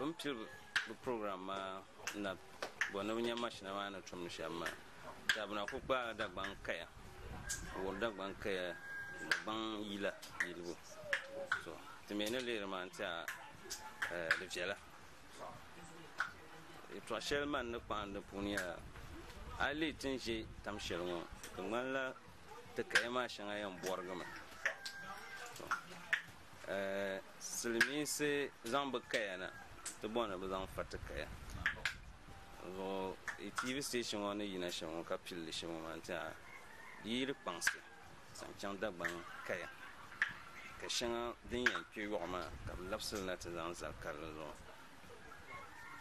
bin piri bi program maa na bɔ ni bi nya mashina maa ni tumdi shɛm maa dabina ku kpaai dagbaŋ kaya wuhiri dagbaŋ kaya dagbaŋ yila yilibu so ti mii ni lihiri maa n tiɛha eh, di viɛla Yɛltɔɣa shɛli man ni kpaŋ di puuni nyɛla a yi lihi ti ni ʒɛ tam shɛli ŋɔ di ŋmanila ti kaya maa shɛŋa yɛn bɔrigimi silimiinsi zaŋ bi kaya na ti bɔri ni bi zaŋ fa ti kaya zuɣu tv station ŋɔ ni yina shɛm ŋɔ ka pilli shɛm ŋɔ maa n tiɛha di yi di kpaŋsi zaŋ chaŋ Dagbaŋ kaya ka shɛŋa din yɛn kpe yɔɣu maa ka bɛ labisi li na ti zaŋ zali karili zuɣu.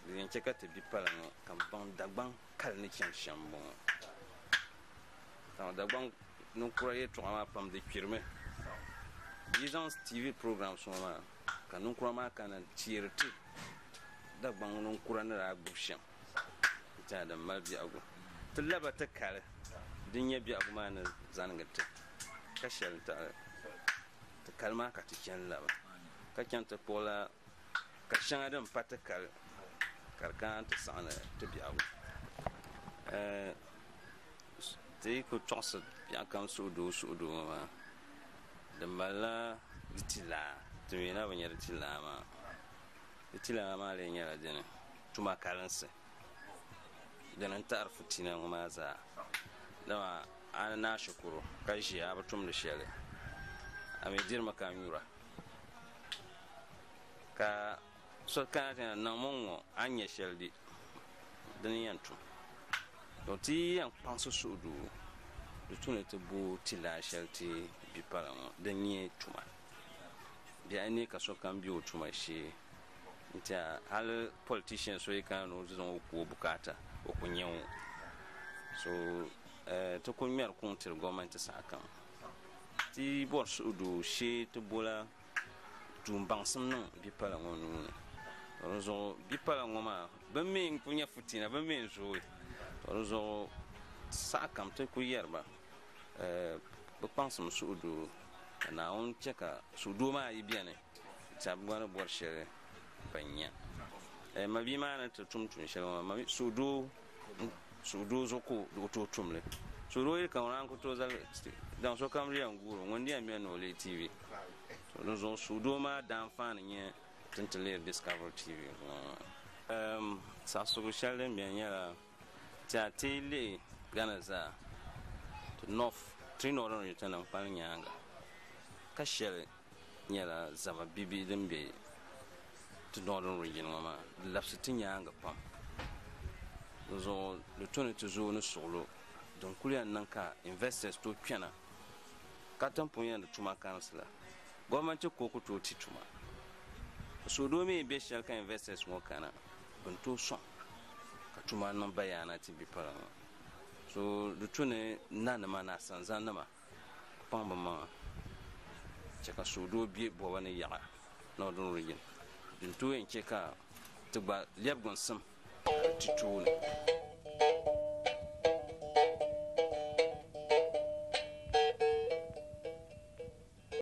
Di yɛn chɛ ka ti bi pala ŋɔ ka m baŋ Dagbaŋ kali ni chani shɛm m-bɔŋɔ. Dama Dagbaŋ ninkura yɛltɔɣa maa pam di kpirimi. Bɛ yi zaŋ TV programs ŋɔ maa ka ninkura maa kana n-teeri ti Dagbaŋ ninkura ni daa gbibi shɛm. Ti Adam mali biɛhigu ti laba ti kali din nyɛ biɛhigu maa ni zanigi ti, ka shɛli n-taɣili ti kali maa ka ti chani laba ka chaŋ ti kpuɣi la ka shɛŋa din pa ti kali ka di kana nti saɣindi ti biɛhigu. Ti yi ku tɔɣisi biɛhigu kam suhudoo suhudoo ŋɔ maa, di mali la di ti laa, ti mi na bi nya di ti laa maa. Fitilana maa lee nyɛla dini tuma kalinsi, dini n-taɣiri fitina ŋɔ maa zaa. Dama a ni naai shikuru ka ʒiya a bi tumdi shɛli, a mi dirimi ka nyura. Ka so kana ti na niŋmi n-ŋɔ a ni nya shɛli di, dini n-yɛn tum. To ti yi yɛn kpaŋsi suhudoo di tu ni ti bo ti lala shɛli ti bi pala ŋɔ, din nyɛ tuma. Bɛ a yi nya ka sokam be o tuma shee nti a hali politician so yi kana ni o ti zaŋ o ku o bukaata o ku nya o so eh, ti ku ŋmɛri kuŋ tiri gɔmɛnti sahakam ti bɔri suhudoo shee ti bola tuun baŋsim niŋ bipala ŋɔ nuuni to di zuɣu bipala ŋɔ maa bɛ mi n ku nya futina bɛ mi n zooi to di zuɣu sahakam ti ku yɛri ba Bɛ kpaŋsim suhudoo, ka Naawuni chɛ ka suhudoo maa yi beni tɛha bɛ gba ni bɔri shɛli ban nya. Mabia maa ni ti tum tuun shɛli ŋɔ maa, suhudoo zuɣu ka o tooi tum li. Suhudoo yi kana ŋuna a ni ku tooi zali daŋ sokam di yɛn guuri o, ŋuni di yɛn beni ni o leei TV. Dinzuɣu suhudoo maa daanfaani nyɛ ti ni ti leei Discovery TV ŋɔ maa. Saɣisigu shɛli din beni nyɛla. Ti a ti yi lihi Ghana zaa, ti North, three Northern Region nim kpali nyaanga ka shɛli nyɛla zama bibihi din be ti Northern Region ŋɔ maa, di labisi ti nyaanga pam. Di zuɣu di to ni ti zooi ni suɣilo din kuli yɛn niŋ ka investors tooi kpɛna katiŋ pun yɛn di tuma karinsi la. Government kooku tooi ti tuma. Suɣidoo mi yi be shɛli ka investors ŋɔ kana. bini tooi sɔŋ ka tuma niŋ bayaana ti bipara ŋɔ so di tu ni nanima ni asanzanima ku paŋ bi maŋa chɛ ka suhudoo be bɔba ni yaɣa Northern Region din tooi yɛn chɛ ka ti gba lɛbigi n-sim ti tooni.